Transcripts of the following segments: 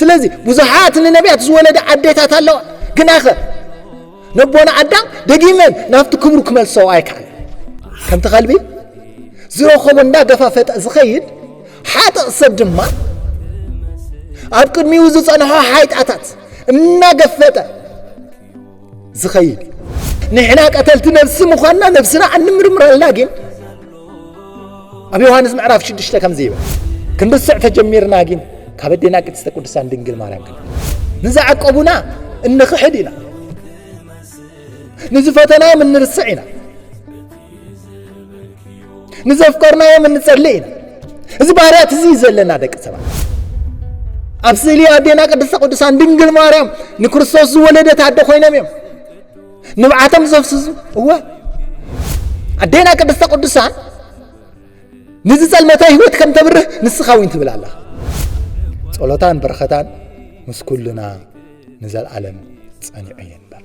ስለዚ ብዙሓት ንነቢያት ዝወለደ ኣዴታት ኣለዋ ግናኸ ነቦና ኣዳም ደጊመን ናብቲ ክብሩ ክመልሰው ኣይከኣለን ከምቲ ከልቢ ዝረኸቦ እንዳገፋፈጠ ዝኸይድ ሓጥእ ሰብ ድማ ኣብ ቅድሚኡ ዝጸንሖ ሓይጣታት እናገፈጠ ዝኸይድ እዩ ንሕና ቀተልቲ ነብሲ ምዃንና ነብስና ኣንምርምረልና ግን ኣብ ዮሃንስ ምዕራፍ ሽዱሽተ ከምዚ ይብል ክንርስዕ ተጀሚርና ግን ካብ ኣዴና ቅድስተ ቅዱሳን ድንግል ማርያም ክን ንዝዓቀቡና እንኽሕድ ኢና ንዝፈተናዮም እንርስዕ ኢና ንዘፍቀርናዮም እንጸሊ ኢና እዚ ባህርያት እዚ ዘለና ደቂ ሰባት ኣብ ስእሊ ኣዴና ቅድስተ ቅዱሳን ድንግል ማርያም ንክርስቶስ ዝወለደት ኣደ ኮይኖም እዮም ንብዓቶም ዘፍስሱ እወ ኣዴና ቅድስተ ቅዱሳን ንዝጸልመተ ህይወት ከም ተብርህ ንስኻ እውን ትብል ኣለኻ ጸሎታን በረኸታን ምስ ኩልና ንዘለዓለም ጸኒዑ ይንበር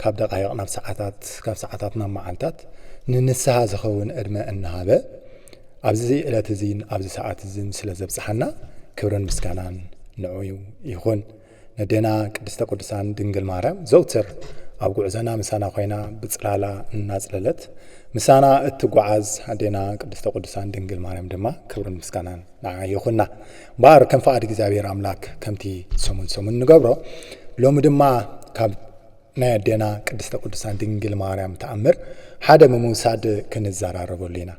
ካብ ደቓይቕ ናብ ሰዓታት፣ ካብ ሰዓታት ናብ መዓልታት ንንስሃ ዝኸውን ዕድመ እናሃበ ኣብዚ ዕለት እዚን ኣብዚ ሰዓት እዚን ስለ ዘብጽሓና ክብርን ምስጋናን ንዑ ይኹን። ነዴና ቅድስተ ቅዱሳን ድንግል ማርያም ዘውትር ኣብ ጉዕዘና ምሳና ኮይና ብጽላላ እናጽለለት ምሳና እትጓዓዝ ኣዴና ቅድስተ ቅዱሳን ድንግል ማርያም ድማ ክብርን ምስጋናን ንዓ ይኹና እምበኣር ከም ፍቓድ እግዚኣብሔር ኣምላክ ከምቲ ሰሙን ሰሙን ንገብሮ ሎሚ ድማ ካብ ናይ ኣዴና ቅድስተ ቅዱሳን ድንግል ማርያም ተኣምር ሓደ ብምውሳድ ክንዘራረበሉ ኢና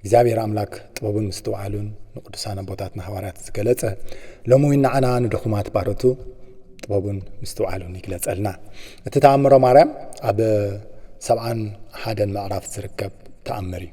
እግዚኣብሔር ኣምላክ ጥበቡን ምስትውዓሉን ንቅዱሳን ኣቦታትና ሃዋርያት ዝገለጸ ሎሚ እውን ንዓና ንድኹማት ባሮቱ ጥበቡን ምስትውዓሉን ይግለጸልና እቲ ተኣምሮ ማርያም ኣብ ሰብዓን ሓደን ምዕራፍ ዝርከብ ተኣምር እዩ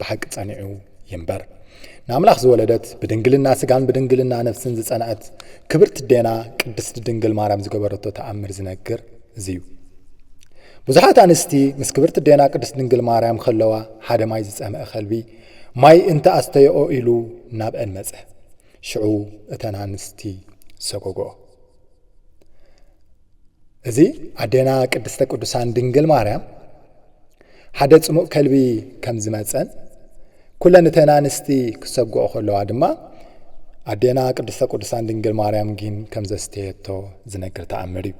ብሓቂ ጸኒዑ ይንበር። ንኣምላኽ ዝወለደት ብድንግልና ስጋን ብድንግልና ነፍስን ዝጸንዐት ክብርቲ ዴና ቅድስቲ ድንግል ማርያም ዝገበረቶ ተኣምር ዝነግር እዚ እዩ። ብዙሓት ኣንስቲ ምስ ክብርቲ ዴና ቅድስት ድንግል ማርያም ከለዋ ሓደ ማይ ዝጸምአ ከልቢ ማይ እንተ ኣስተየኦ ኢሉ ናብአን መጸ ሽዑ እተን ኣንስቲ ሰጎግኦ እዚ ኣዴና ቅድስተ ቅዱሳን ድንግል ማርያም ሓደ ጽሙእ ከልቢ ከም ዝመጸን ኩለን እተን ኣንስቲ ክሰግኦ ከለዋ ድማ ኣዴና ቅድስተ ቅዱሳን ድንግል ማርያም ግን ከም ዘስተየቶ ዝነግር ተኣምር እዩ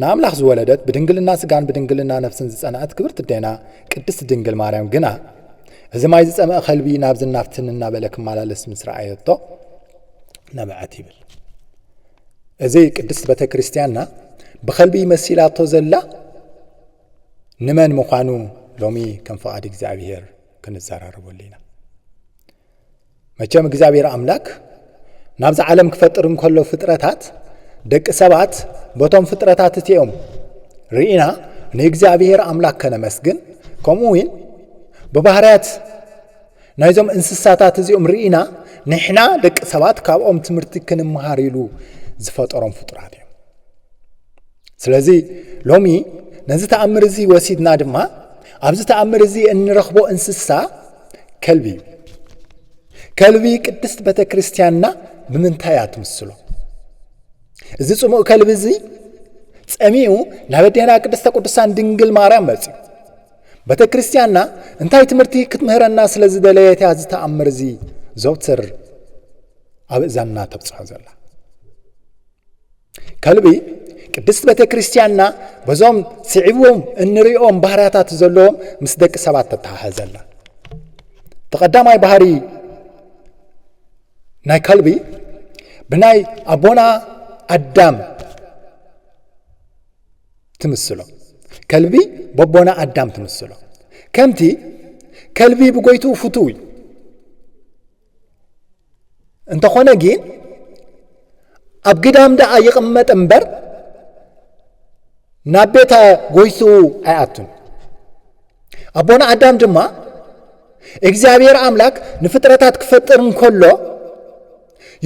ንኣምላኽ ዝወለደት ብድንግልና ስጋን ብድንግልና ነፍስን ዝጸንዐት ክብርቲ ኣዴና ቅድስቲ ድንግል ማርያም ግና እዚ ማይ ዝጸመአ ከልቢ ናብዚ ናብትን እናበለ ክመላለስ ምስ ረኣየቶ ነብዐት ይብል እዚ ቅድስት ቤተ ክርስቲያንና ብኸልቢ መሲላቶ ዘላ ንመን ምዃኑ ሎሚ ከም ፍቓድ እግዚኣብሔር ክንዘራረበሉ ኢና መቸም እግዚኣብሔር ኣምላክ ናብዚ ዓለም ክፈጥር እንከሎ ፍጥረታት ደቂ ሰባት በቶም ፍጥረታት እቲኦም ርኢና ንእግዚኣብሔር ኣምላክ ከነመስግን ከምኡ እውን ብባህርያት ናይዞም እንስሳታት እዚኦም ርኢና ንሕና ደቂ ሰባት ካብኦም ትምህርቲ ክንምሃር ኢሉ ዝፈጠሮም ፍጡራት እዮም ስለዚ ሎሚ ነዚ ተኣምር እዚ ወሲድና ድማ ኣብዚ ተኣምር እዚ እንረኽቦ እንስሳ ከልቢ እዩ ከልቢ ቅድስት ቤተ ክርስትያንና ብምንታይ እያ ትምስሎ እዚ ፅሙእ ከልቢ እዚ ፀሚኡ ናብ ኣዴና ቅድስተ ቅዱሳን ድንግል ማርያም መፅዩ ቤተ ክርስቲያንና እንታይ ትምህርቲ ክትምህረና ስለ ዝደለየት እያ እዚ ተኣምር እዚ ዘውትር ኣብ እዛንና ተብፅሖ ዘላ ከልቢ ቅድስት ቤተ ክርስቲያንና በዞም ስዒቦም እንሪኦም ባህርያታት ዘለዎም ምስ ደቂ ሰባት ተተሓሓዘላ እቲ ቀዳማይ ባህሪ ናይ ከልቢ ብናይ ኣቦና ኣዳም ትምስሎ ከልቢ በቦና ኣዳም ትምስሎ ከምቲ ከልቢ ብጎይቱ ፍቱው እዩ እንተኾነ ግን ኣብ ግዳም ደኣ ይቕመጥ እምበር ናብ ቤተ ጎይቱ ኣይኣቱን ኣቦና ኣዳም ድማ እግዚኣብሔር ኣምላክ ንፍጥረታት ክፈጥር እንከሎ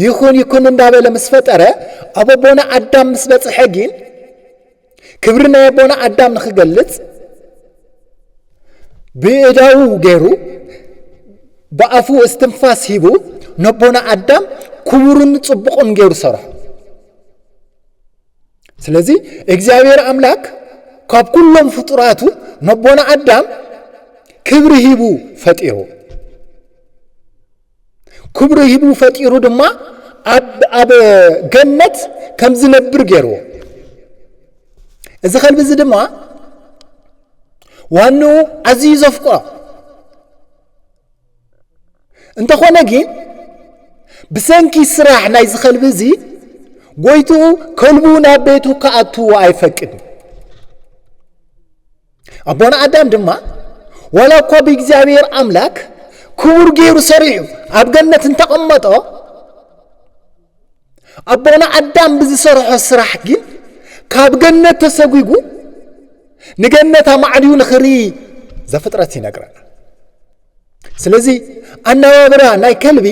ይኹን ይኩን እንዳበለ ምስ ፈጠረ ኣብ ኣቦና ኣዳም ምስ በፅሐ ግን ክብሪ ናይ ኣቦና ኣዳም ንክገልፅ ብእዳው ገይሩ ብኣፉ እስትንፋስ ሂቡ ነቦና ኣዳም ክቡርን ፅቡቕን ገይሩ ሰርሖ ስለዚ እግዚኣብሔር ኣምላክ ካብ ኩሎም ፍጡራቱ ነቦና ኣዳም ክብሪ ሂቡ ፈጢሩ ክብሩ ሂቡ ፈጢሩ ድማ ኣብ ገነት ከም ዝነብር ገይርዎ እዚ ከልቢ እዚ ድማ ዋንኡ ኣዝዩ ዘፍቅሮ እንተኾነ ግን ብሰንኪ ስራሕ ናይ ዝኸልቢ እዚ ጎይትኡ ከልቡ ናብ ቤቱ ክኣትዎ ኣይፈቅድን ኣቦና ኣዳም ድማ ዋላ እኳ ብእግዚኣብሔር ኣምላክ ክቡር ገይሩ ሰሪሑ ኣብ ገነት እንተቐመጦ ኣቦና ኣዳም ብዝሰርሖ ስራሕ ግን ካብ ገነት ተሰጒጉ ንገነት ኣማዕድዩ ንኽርኢ ዘፍጥረት ይነግረና ስለዚ ኣነባብራ ናይ ከልቢ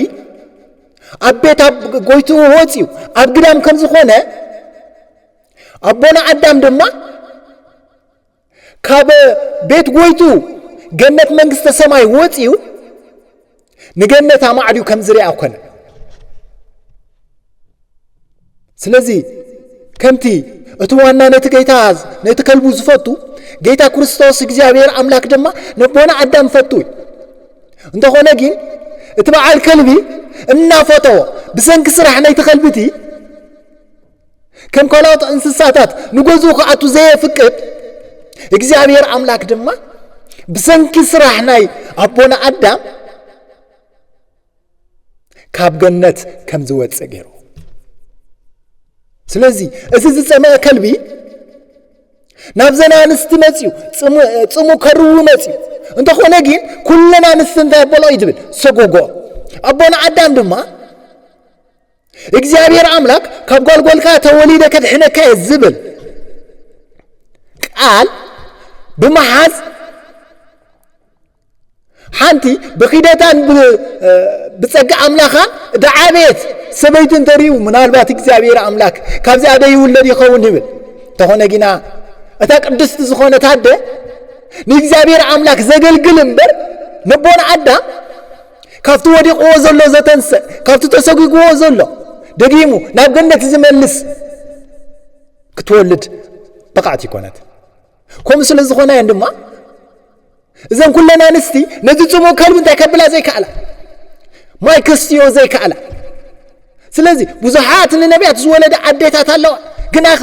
ኣብ ቤት ኣብ ጎይትኡ ወፅዩ ኣብ ግዳም ከም ዝኾነ ኣቦና ኣዳም ድማ ካብ ቤት ጎይቱ ገነት መንግስተ ሰማይ ወፂኡ ንገነት ኣማዕድዩ ከም ዝርኣ ኮነ ስለዚ ከምቲ እቲ ዋና ነቲ ጌታ ነቲ ከልቡ ዝፈቱ ጌታ ክርስቶስ እግዚኣብሔር ኣምላክ ድማ ነቦና ኣዳም ፈቱ እዩ እንተኾነ ግን እቲ በዓል ከልቢ እናፈተዎ ብሰንኪ ስራሕ ናይቲ ከልቢ እቲ ከም ካልኦት እንስሳታት ንገዝኡ ክኣቱ ዘየፍቅድ እግዚኣብሔር ኣምላክ ድማ ብሰንኪ ስራሕ ናይ ኣቦና ኣዳም ካብ ገነት ከም ዝወፅእ ገይሩ ስለዚ እዚ ዝፀመአ ከልቢ ናብ ዘና ኣንስቲ መፅዩ ፅሙ ከርዊ መፅዩ እንተኾነ ግን ኩለን ኣንስቲ እንታይ ኣበልኦ እዩ ዝብል ሰጎጎ ኣቦና ኣዳም ድማ እግዚኣብሔር ኣምላክ ካብ ጓልጓልካ ተወሊደ ከድሕነካ እየ ዝብል ቃል ብምሓዝ ሓንቲ ብኪደታን ብፀጋ ኣምላኻን ዳዓበየት ሰበይቲ እንተሪኡ ምናልባት እግዚኣብሔር ኣምላክ ካብዚኣ ደ ይውለድ ይኸውን ይብል እንተኾነ ግና እታ ቅድስቲ ዝኾነት ኣደ ንእግዚኣብሔር ኣምላክ ዘገልግል እምበር ነቦን ኣዳም ካብቲ ወዲቕዎ ዘሎ ዘተንስእ ካብቲ ተሰጒግዎ ዘሎ ደጊሙ ናብ ገነት ዝመልስ ክትወልድ ብቕዕቲ ይኮነት ከምኡ ስለ ዝኾነ እየን ድማ እዘን ኩለን ኣንስቲ ነቲ ፅሙእ ከልቢ እንታይ ከብላ ዘይከኣላ ማይ ከስትዮ ዘይከኣላ ስለዚ ብዙሓት ንነቢያት ዝወለደ ኣዴታት ኣለዋ ግናኸ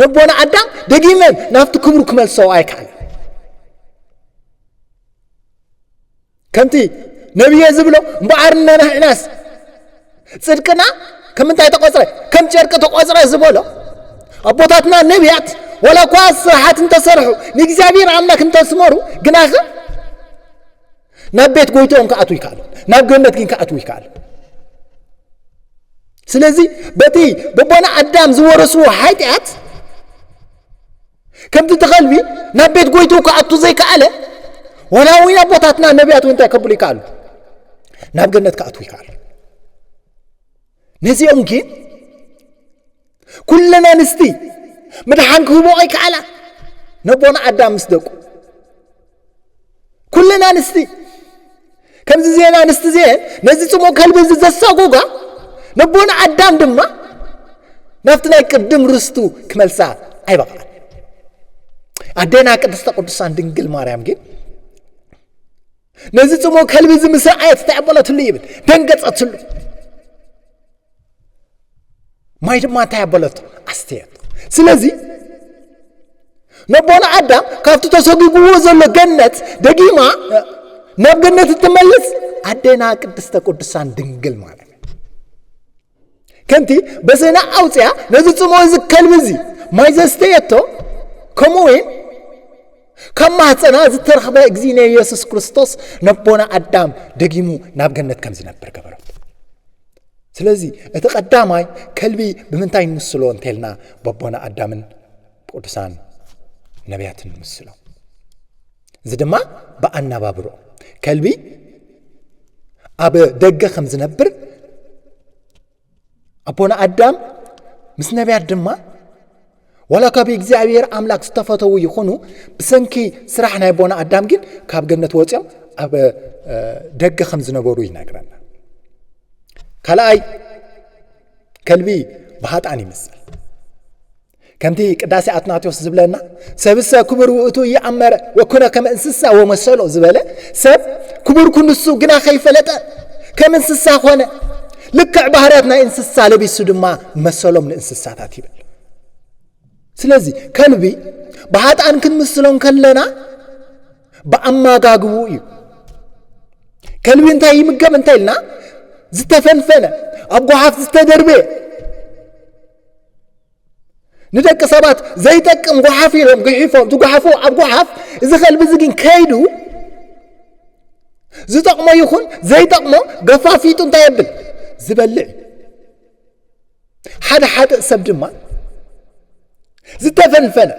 ነቦና ኣዳም ደጊመን ናብቲ ክብሩ ክመልሰው ኣይከኣለን ከምቲ ነብየ ዝብሎ እምበኣርና ናሕናስ ጽድቅና ከም እንታይ ተቖጽረ ከም ጨርቂ ተቖጽረ ዝበሎ ኣቦታትና ነቢያት ወላ እኳ ስራሓት እንተሰርሑ ንእግዚኣብሔር ኣምላክ እንተስመሩ ግናኸ ናብ ቤት ጎይትኦም ክኣትዉ ይከኣሉ ናብ ገነት ግን ክኣትዉ ይከኣሉ ስለዚ በቲ በቦና ኣዳም ዝወረስዎ ሓጢኣት ከምቲ እቲ ከልቢ ናብ ቤት ጎይትኡ ክኣቱ ዘይከኣለ ዋላ እውን ኣቦታትና ነቢያት እውን እንታይ ከብሉ ይከኣሉ ናብ ገነት ክኣትዉ ይከኣሉ ነዚኦም ግን ኩለን ኣንስቲ ምድሓን ክህቦ ኣይከኣላ ነቦና ኣዳም ምስ ደቁ ኩለን ኣንስቲ ከምዚ ዜን ኣንስቲ ዜን ነዚ ጽሙቕ ከልቢ እዚ ዘሳጎጋ ነቦን ኣዳም ድማ ናብቲ ናይ ቅድም ርስቱ ክመልሳ ኣይበቕዓን ኣዴና ቅድስተ ቅዱሳን ድንግል ማርያም ግን ነዚ ጽሙቕ ከልቢ እዚ ምስ ረኣየት ተዕበለትሉ ይብል ደንገጸትሉ ማይ ድማ እንታይ ኣበለቶ ኣስተየቶ ስለዚ ነቦና ኣዳም ካብቲ ተሰጒግዎ ዘሎ ገነት ደጊማ ናብ ገነት እትመልስ ኣዴና ቅድስተ ቅዱሳን ድንግል ማለት እዩ ከምቲ በሰና ኣውፅያ ነዚ ፅሞ እዚ ከልቢ እዚ ማይ ዘስተየቶ ከምኡ እውን ካብ ማህፀና ዝተረኽበ እግዚእነ ኢየሱስ ክርስቶስ ነቦና ኣዳም ደጊሙ ናብ ገነት ከም ዝነብር ገበረት ስለዚ እቲ ቀዳማይ ከልቢ ብምንታይ ንምስሎ እንተልና በቦና ኣዳምን ቅዱሳን ነቢያትን ንምስሎ እዚ ድማ ብኣነባብሮ ከልቢ ኣብ ደገ ከም ዝነብር ኣቦና ኣዳም ምስ ነቢያት ድማ ዋላ ካብ እግዚኣብሔር ኣምላክ ዝተፈተዉ ይኹኑ ብሰንኪ ስራሕ ናይ ኣቦና ኣዳም ግን ካብ ገነት ወፂኦም ኣብ ደገ ከም ዝነበሩ ይነግረና ካልኣይ ከልቢ ብሃጣን ይምሰል ከምቲ ቅዳሴ ኣትናቴዎስ ዝብለና ሰብሰ ክቡር ውእቱ እየኣመረ ወኩነ ከም እንስሳ ወመሰሎ ዝበለ ሰብ ክቡር ኩንሱ ግና ከይፈለጠ ከም እንስሳ ኮነ ልክዕ ባህርያት ናይ እንስሳ ለቢሱ ድማ መሰሎም ንእንስሳታት ይብል ስለዚ ከልቢ ብሃጣን ክንምስሎ ከለና ብኣመጋግቡ እዩ ከልቢ እንታይ ይምገብ እንታይ ኢልና ዝተፈንፈነ ኣብ ጓሓፍ ዝተደርበየ ንደቂ ሰባት ዘይጠቅም ጓሓፍ ኢሎም ግሒፎም ትጓሓፉ ኣብ ጓሓፍ እዚ ከልቢ እዚ ግን ከይዱ ዝጠቕሞ ይኹን ዘይጠቕሞ ገፋፊጡ እንታይ የብል ዝበልዕ ሓደ ሓደ ሰብ ድማ ዝተፈልፈለ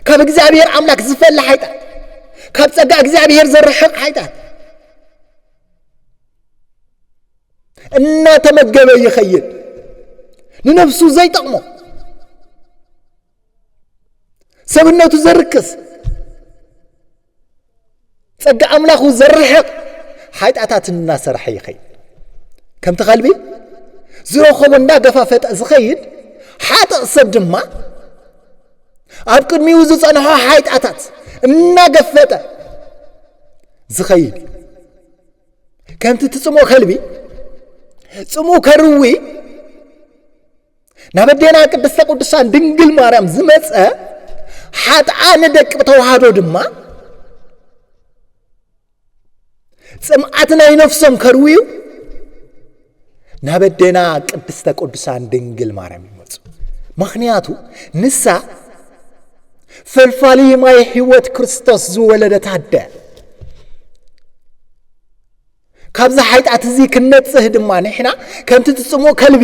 ካብ እግዚኣብሔር ኣምላክ ዝፈለ ሓይጣት ካብ ጸጋ እግዚኣብሔር ዘርሕቕ ሓይጣት እናተመገበ ይኸይድ ንነፍሱ ዘይጠቕሞ ሰብነቱ ዘርክስ ጸጋ ኣምላኹ ዘርሕቕ ሓጢኣታት እናሰርሐ ይኸይድ ከምቲ ከልቢ ዝረኸቦ እንዳገፋፈጠ ዝኸይድ ሓጥእ ሰብ ድማ ኣብ ቅድሚኡ ዝጸንሖ ሓይጣታት እናገፈጠ ዝኸይድ እዩ ከምቲ ትጽምኦ ከልቢ ጽምኡ ከርዊ ናብ ኣዴና ቅድስተ ቅዱሳን ድንግል ማርያም ዝመፀ ሓጥኣን ደቂ ተዋህዶ ድማ ጽምዓት ናይ ነፍሶም ከርውዩ ናብ ኣዴና ቅድስተ ቅዱሳን ድንግል ማርያም ይመፁ ምክንያቱ ንሳ ፈልፋሊ ማይ ህይወት ክርስቶስ ዝወለደት ኣደ ካብዚ ሓይጣት እዚ ክንነፅህ ድማ ንሕና ከምቲ ትፅሞ ከልቢ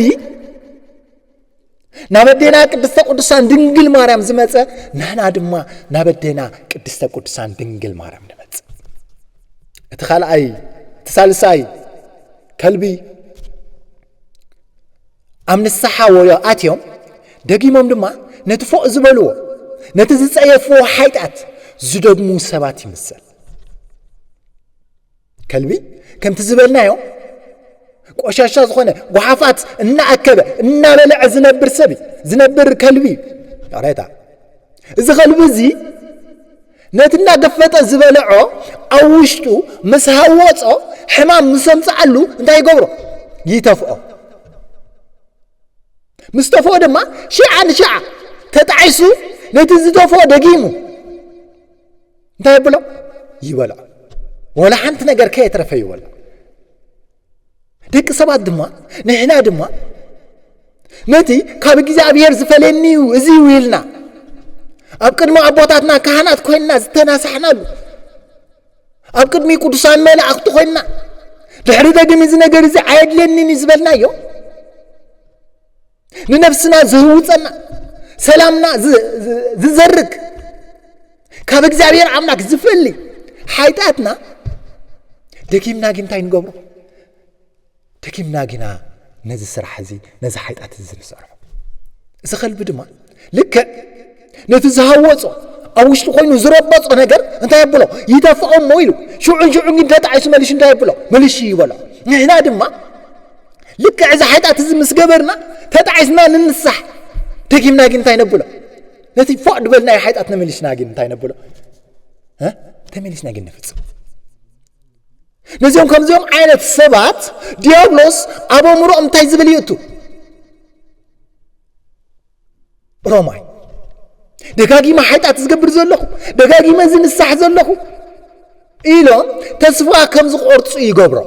ናብ ኣዴና ቅድስተ ቅዱሳን ድንግል ማርያም ዝመፀ ንሕና ድማ ናብ ኣዴና ቅድስተ ቅዱሳን ድንግል ማርያም ንመፅ እቲ ካልኣይ እቲ ሳልሳይ ከልቢ ኣብ ንስሓ ወዮ ኣትዮም ደጊሞም ድማ ነቲ ፎእ ዝበልዎ ነቲ ዝፀየፍዎ ሓይጣት ዝደግሙ ሰባት ይምሰል ከልቢ ከምቲ ዝበልናዮ ቆሻሻ ዝኾነ ጓሓፋት እናኣከበ እናበለዐ ዝነብር ሰብ እዩ ዝነብር ከልቢ እዩ ይቕሬታ እዚ ከልቢ እዚ ነቲ እናገፈጠ ዝበለዖ ኣብ ውሽጡ ምስ ሃወፆ ሕማም ምስ ኣምፅዓሉ እንታይ ይገብሮ ይተፍኦ ምስ ተፍኦ ድማ ሽዓ ንሽዓ ተጣዒሱ ነቲ ዝተፍኦ ደጊሙ እንታይ ኣብሎ ይበልዖ ወላ ሓንቲ ነገር ከየትረፈ ይበል ደቂ ሰባት ድማ ንሕና ድማ ነቲ ካብ እግዚኣብሔር ዝፈለየኒ እዩ እዚ እዩ ኢልና ኣብ ቅድሚ ኣቦታትና ካህናት ኮይንና ዝተናሳሕናሉ ኣብ ቅድሚ ቅዱሳን መላእኽቲ ኮይንና ድሕሪ ደግም እዚ ነገር እዚ ኣየድለኒን እዩ ዝበልናዮ ንነፍስና ዝህውፀና ሰላምና ዝዘርግ ካብ እግዚኣብሔር ኣምላክ ዝፈሊ ሓይጣትና ደጊምና ግን እንታይ ንገብሮ ደጊምና ግና ነዚ ስራሕ እዚ ነዚ ሓይጣት እዚ ንሰርሖ እዚ ከልቢ ድማ ልክዕ ነቲ ዝሃወጾ ኣብ ውሽጢ ኮይኑ ዝረበጾ ነገር እንታይ የብሎ ይደፍኦ እሞ ኢሉ ሽዑን ሽዑን ግን ተጣዒሱ መሊሹ እንታይ የብሎ መሊሹ ይበሎ ንሕና ድማ ልክዕ እዚ ሓጢኣት እዚ ምስ ገበርና ተጣዒስና ንንሳሕ ደጊምና ግን እንታይ ነብሎ ነቲ ፎእ ድበልናዮ ሓጢኣት ነመሊስና ግን እንታይ ነብሎ ተመሊስና ግን ንፍጽም ነዚኦም ከምዚኦም ዓይነት ሰባት ዲያብሎስ ኣብ ኣእምሮኦም እንታይ ዝብል ይእቱ ሮማይ ደጋጊመ ሓጢኣት ዝገብር ዘለኹ ደጋጊመ ዝንሳሕ ዘለኹ ኢሎም ተስፋ ከም ዝቆርፁ ይገብሮ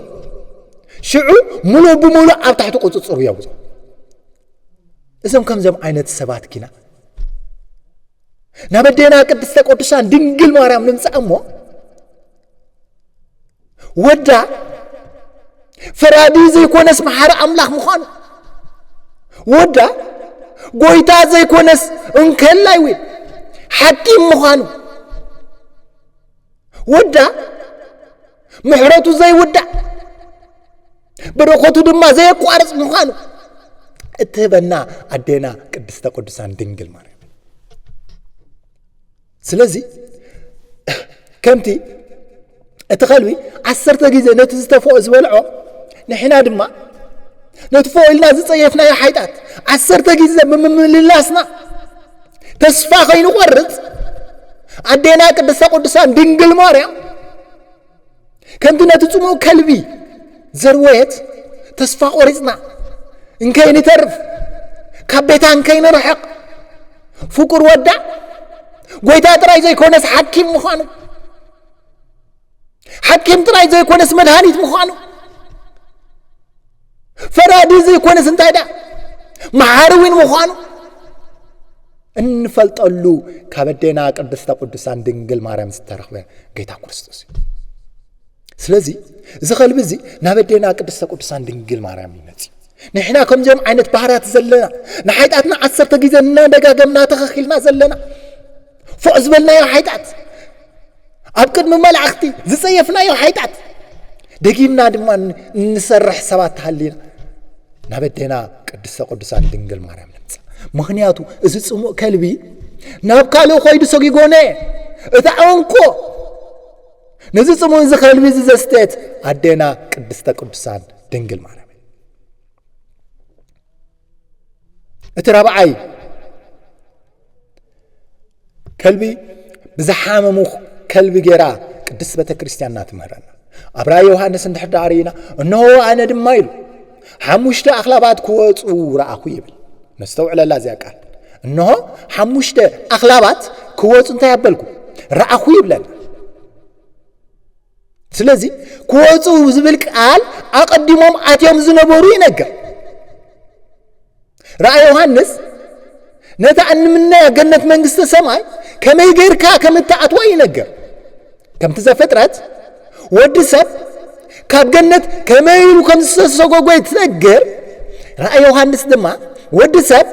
ሽዑ ሙሉእ ብሙሉእ ኣብ ታሕቲ ቁፅፅሩ የውፅ እዞም ከምዞም ዓይነት ሰባት ኪና ናብ ኣዴና ቅድስተ ቅዱሳን ድንግል ማርያም ንምፃእ እሞ ወዳ ፈራዲ ዘይኮነስ መሓሪ ኣምላኽ ምዃኑ ወዳ ጎይታ ዘይኮነስ እንከላይ ወይ ሓኪም ምዃኑ ወዳ ምሕረቱ ዘይውዳእ በረኸቱ ድማ ዘየቋርፅ ምዃኑ እትህበና ኣዴና ቅድስተ ቅዱሳን ድንግል ማርያም ስለዚ ከምቲ እቲ ኸልቢ ዓሰርተ ግዜ ነቲ ዝተፈኦ ዝበልዖ ንሕና ድማ ነቲ ፈኦ ኢልና ዝጸየፍናዮ ሓይጣት ዓሰርተ ግዜ ብምምልላስና ተስፋ ከይንቆርጽ ኣዴና ቅድስተ ቅዱሳን ድንግል ማርያም ከምቲ ነቲ ጽሙእ ከልቢ ዘርወየት ተስፋ ቆሪጽና እንከይንተርፍ ካብ ቤታ እንከይንርሕቕ ፍቁር ወዳ ጎይታ ጥራይ ዘይኮነስ ሓኪም ምዃኑ ሓኪም ጥራይ ዘይኮነስ መድሃኒት ምዃኑ ፈራዲ ዘይኮነስ እንታይ ደኣ መሓሪ እውን ምዃኑ እንፈልጠሉ ካብ ኣዴና ቅድስተ ቅዱሳን ድንግል ማርያም ዝተረኽበ ጌታ ክርስቶስ እዩ ስለዚ እዚ ከልቢ እዚ ናብ ኣዴና ቅድስተ ቅዱሳን ድንግል ማርያም ይመፅእ ንሕና ከምዚኦም ዓይነት ባህርያት ዘለና ንሓይጣትና ዓሰርተ ግዜ እናደጋገምና ተኸኪልና ዘለና ፎእ ዝበልናዮ ሓይጣት ኣብ ቅድሚ መላእኽቲ ዝጸየፍናዮ ሓይጣት ደጊምና ድማ እንሰርሕ ሰባት ተሃሊና ናብ ኣዴና ቅድስተ ቅዱሳን ድንግል ማርያም ንምጻእ ምክንያቱ እዚ ጽሙእ ከልቢ ናብ ካልእ ኮይዱ ሰጊጎነ እታ ዕንኮ ነዚ ጽሙእ እዚ ከልቢ እዚ ዘስተት ኣዴና ቅድስተ ቅዱሳን ድንግል ማርያም እቲ ራብዓይ ከልቢ ብዝሓመሙ ከልቢ ጌራ ቅድስ ቤተ ክርስቲያንና ትምህረና ኣብ ራእይ ዮሃንስ እንድሕር ዳኣ ርኢና እነሆ ኣነ ድማ ኢሉ ሓሙሽተ ኣኽላባት ክወፁ ረኣኹ ይብል ነስተውዕለላ እዚያ ቃል እነሆ ሓሙሽተ ኣኽላባት ክወፁ እንታይ ኣበልኩ ረኣኹ ይብለና ስለዚ ክወፁ ዝብል ቃል ኣቐዲሞም ኣትዮም ዝነበሩ ይነገር። ራእይ ዮሃንስ ነታ እንምነያ ገነት መንግስተ ሰማይ ከመይ ጌርካ ከም እትኣትዋ ይነገር። ከምቲ ዘፍጥረት ወዲ ሰብ ካብ ገነት ከመይ ኢሉ ከም ዝተሰጎጎ ትነግር። ራእይ ዮሃንስ ድማ ወዲ ሰብ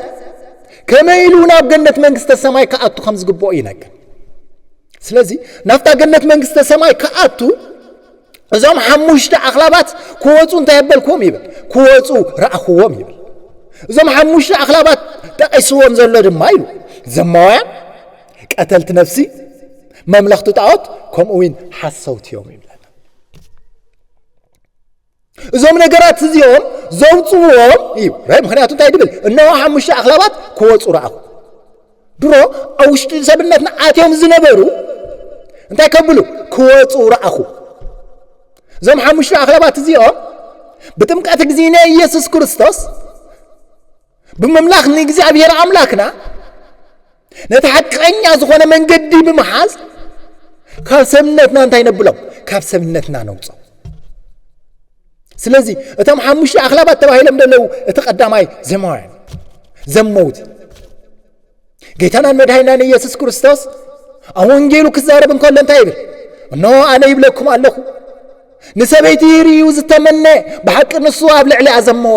ከመይ ኢሉ ናብ ገነት መንግስተ ሰማይ ክኣቱ ከም ዝግብኦ ይነግር። ስለዚ ናብታ ገነት መንግስተ ሰማይ ክኣቱ እዞም ሓሙሽተ ኣኽላባት ክወፁ እንታይ ኣበልክዎም ይብል ክወፁ ረኣኽዎም ይብል እዞም ሓሙሽተ ኣኽላባት ጠቒስዎም ዘሎ ድማ ኢሉ ዘማውያን ቀተልቲ ነፍሲ መምለኽቲ ጣዖት ከምኡ እውን ሓሰውቲ እዮም ይብለና እዞም ነገራት እዚኦም ዘውፅዎም እዩ ራይ ምክንያቱ እንታይ ድብል እነሆ ሓሙሽተ ኣኽላባት ክወፁ ረኣኹ ድሮ ኣብ ውሽጢ ሰብነትና ኣትዮም ዝነበሩ እንታይ ከብሉ ክወፁ ረኣኹ እዞም ሓሙሽተ ኣኽላባት እዚኦም ብጥምቀት ግዜነ ኢየሱስ ክርስቶስ ብምምላኽ ንእግዚኣብሔር ኣምላክና ነቲ ሓቀኛ ዝኾነ መንገዲ ብምሓዝ ካብ ሰብነትና እንታይ ነብሎም ካብ ሰብነትና ነውፆ ስለዚ እቶም ሓሙሽተ ኣኽላባት ተባሂሎም ዘለዉ እቲ ቀዳማይ ዘማውያን ዘመውቲ ጌታናን መድሃይናን ኢየሱስ ክርስቶስ ኣብ ወንጌሉ ክዛረብ እንከሎ እንታይ ይብል እኖ ኣነ ይብለኩም ኣለኹ ንሰበይቲ ይርእዩ ዝተመነ ብሓቂ ንሱ ኣብ ልዕሊ ኣዘመዎ